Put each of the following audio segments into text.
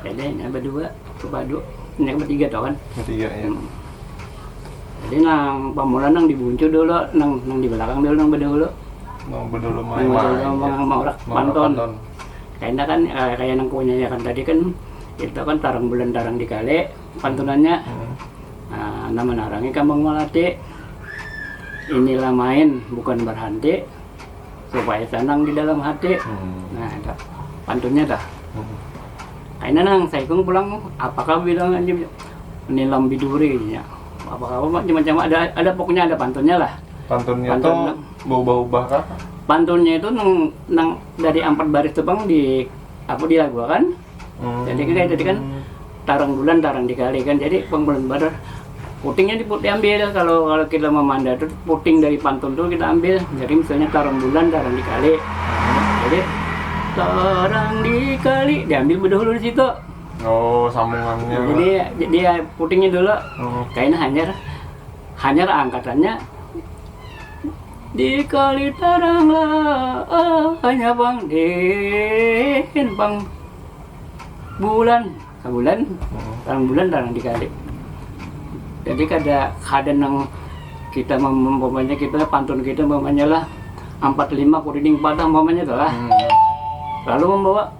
Jadi nah berdua ke padu, ini kan bertiga tau kan? Bertiga ya. Hmm. Jadi nang pamula nang dibuncu dulu, nang nang di belakang dulu nang berdulu. Nang berdulu mah nang berdulu mah ya. mau rak panton. Karena kan eh, kayak nang punya ya kan tadi kan itu kan tarang bulan tarang di kali pantunannya. Hmm. Nah, nama narangnya kambang melati. Inilah main bukan berhenti. supaya tenang di dalam hati hmm. nah ada pantunnya dah hmm. aina nang saya kung pulang apakah bilang aja nilam biduri ya apakah macam-macam ada ada pokoknya ada pantunnya lah pantunnya Pantun, tuh berubah-ubah kah pantunnya itu nang, nang dari empat baris tuh bang di aku dilagu kan Oh. Jadi kita tadi kan tarang bulan tarang dikali kan jadi pembulan baru putingnya diputih ambil kalau kalau kita memanda itu puting dari pantun tuh kita ambil jadi misalnya tarang bulan tarang dikali jadi tarang dikali diambil bedahulu di situ oh sambungannya jadi dia putingnya dulu oh. kainnya hanyar hanyar angkatannya Di kali tarang lah hanya bang den bang bulan bulan tarang bulan tarang di kali jadi kada kada nang kita umpamanya kita pantun kita umpamanya lah ampat lima kudining patah umpamanya tu lah hmm. lalu membawa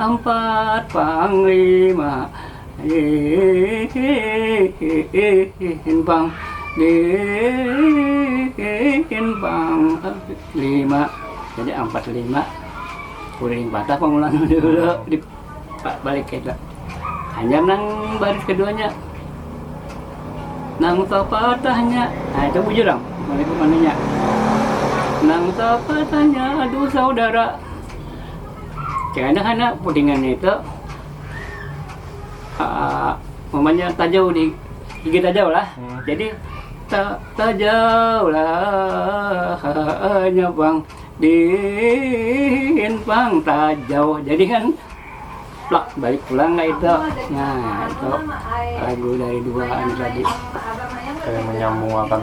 Ampat panglima dihimpang dihimpang lima jadi ampat lima kuring patah pamulaan dulu di balik kita hanya nang baris keduanya nang topatahnya nah itu bujur am nang topatahnya aduh saudara Kayana-kana pudingannya itu uh, mamanya tajau di gigi tajau lah. Hmm. Jadi ta tajau lah hanya bang din bang tajau. Jadi kan plak balik pulang lah itu. Nah itu lagu dari dua ini tadi. Kayak menyambung akan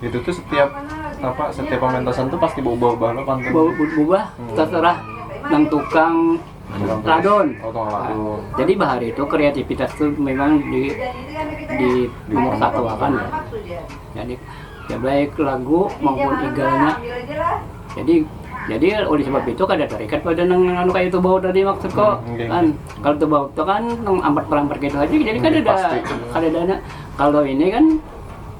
itu tuh setiap apa setiap pementasan tuh pasti berubah-ubah lo pantun Bau berubah Hmm. terserah yang tukang ladon. oh tukang ladon Jadi bahar itu kreativitas itu memang di di nomor satu akan ya. Jadi ya baik lagu maupun igalnya. Jadi jadi oleh sebab itu kada terikat pada nang anu kayak itu bau tadi maksudku Hmm, oke. kan kalau itu bau itu kan nang ampat perampat gitu aja jadi kada ada pasti. kada ada na- kalau ini kan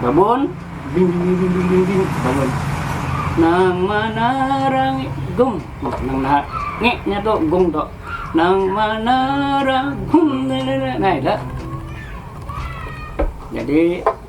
Babun, ding ding ding ding ding ding, bangun. Nang manarang gong, nang nah, nge nya tuh gong tuh. Nang manarang gong, nah itu. Jadi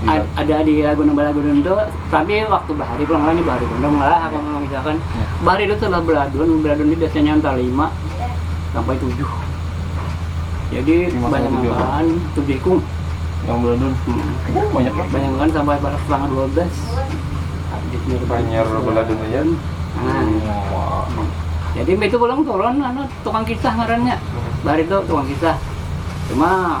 Ad, ada di lagu nang balagu dun tuh tapi waktu bahari pulang ngalahnya bahari dun ngalah apa mau misalkan yeah. bahari dun sudah beladun beladun ini biasanya antara lima sampai tujuh jadi banyak makan tujuh ikung yang beladun hmm. oh, banyak banget banyak kan sampai pada setengah dua belas banyak beladun aja nah. Hmm. jadi itu pulang turun anu, tukang kisah ngarannya hmm. bahari itu tukang kisah cuma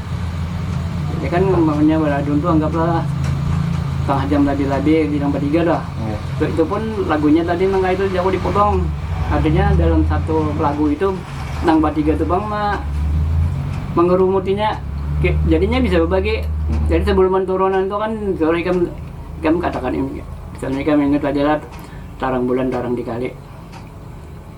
ya kan umpamanya baladun tuh anggaplah setengah jam lebih-lebih bilang bertiga dah yeah. so, itu pun lagunya tadi nang itu jago dipotong artinya dalam satu lagu itu nang bertiga tuh bang mah mengerumutinya jadinya bisa berbagi hmm. jadi sebelum turunan itu kan kalau ikan ikan katakan ini misalnya ikan ingat aja lah tarang bulan tarang dikali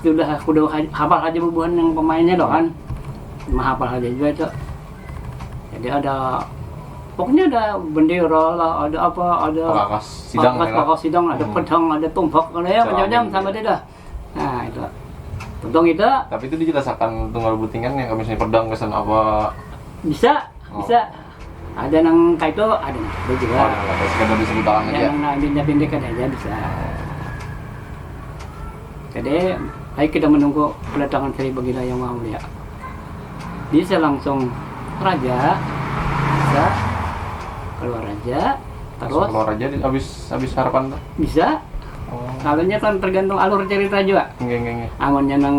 Sudah sudah hafal haja bubuhan yang pemainnya tu kan cuma hafal haja jua itu jadi ada pokoknya ada bendera lah ada apa ada pakakas sidang pakakas, pakakas sidang ada hmm. pedang ada tombak ada ya macam-macam sama dia dah nah itu tentang itu tapi itu dijelaskan tunggal butingan yang kami misalnya pedang kesan apa bisa oh. bisa Ada nang kaitu ada nang kaitu jua. Oh, ada sekadar bisa dibalang aja. Yang nang pindah-pindah kada ada bisa. Jadi, baik kita menunggu kedatangan Sri Baginda Yang Maha Mulia. Bisa langsung raja, bisa keluar raja, terus keluar raja habis habis harapan tuh. Bisa. Oh. Kalau kan tergantung alur cerita juga. Nggih, nggih, nggih. Amunnya nang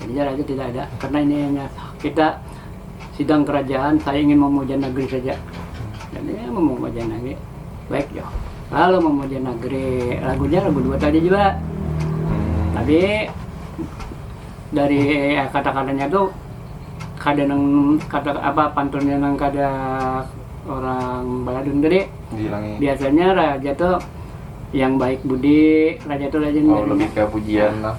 Ganjar aja tidak ada karena ini hanya kita sidang kerajaan saya ingin memuja negeri saja dan ini memuja negeri baik jo kalau memuja negeri lagunya lagu dua tadi juga tapi dari eh, kata-katanya tuh kada nang kata apa pantunnya nang kada orang baladun tadi Dihilangi. biasanya raja tuh yang baik budi raja tuh raja Oh, lebih ke pujian lah.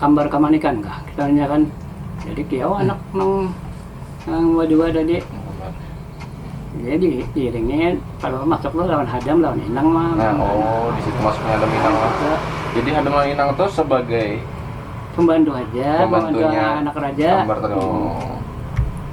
kambar kamanikan kah kitanya kan jadi kiau anak nang nang jua tadi jadi iringi kalau masuk tuh lawan hadam lawan inang mah oh di situ masuknya hadam inang mah jadi hadam lawan inang tuh sebagai pembantu aja pembantunya anak raja kambar tadi oh.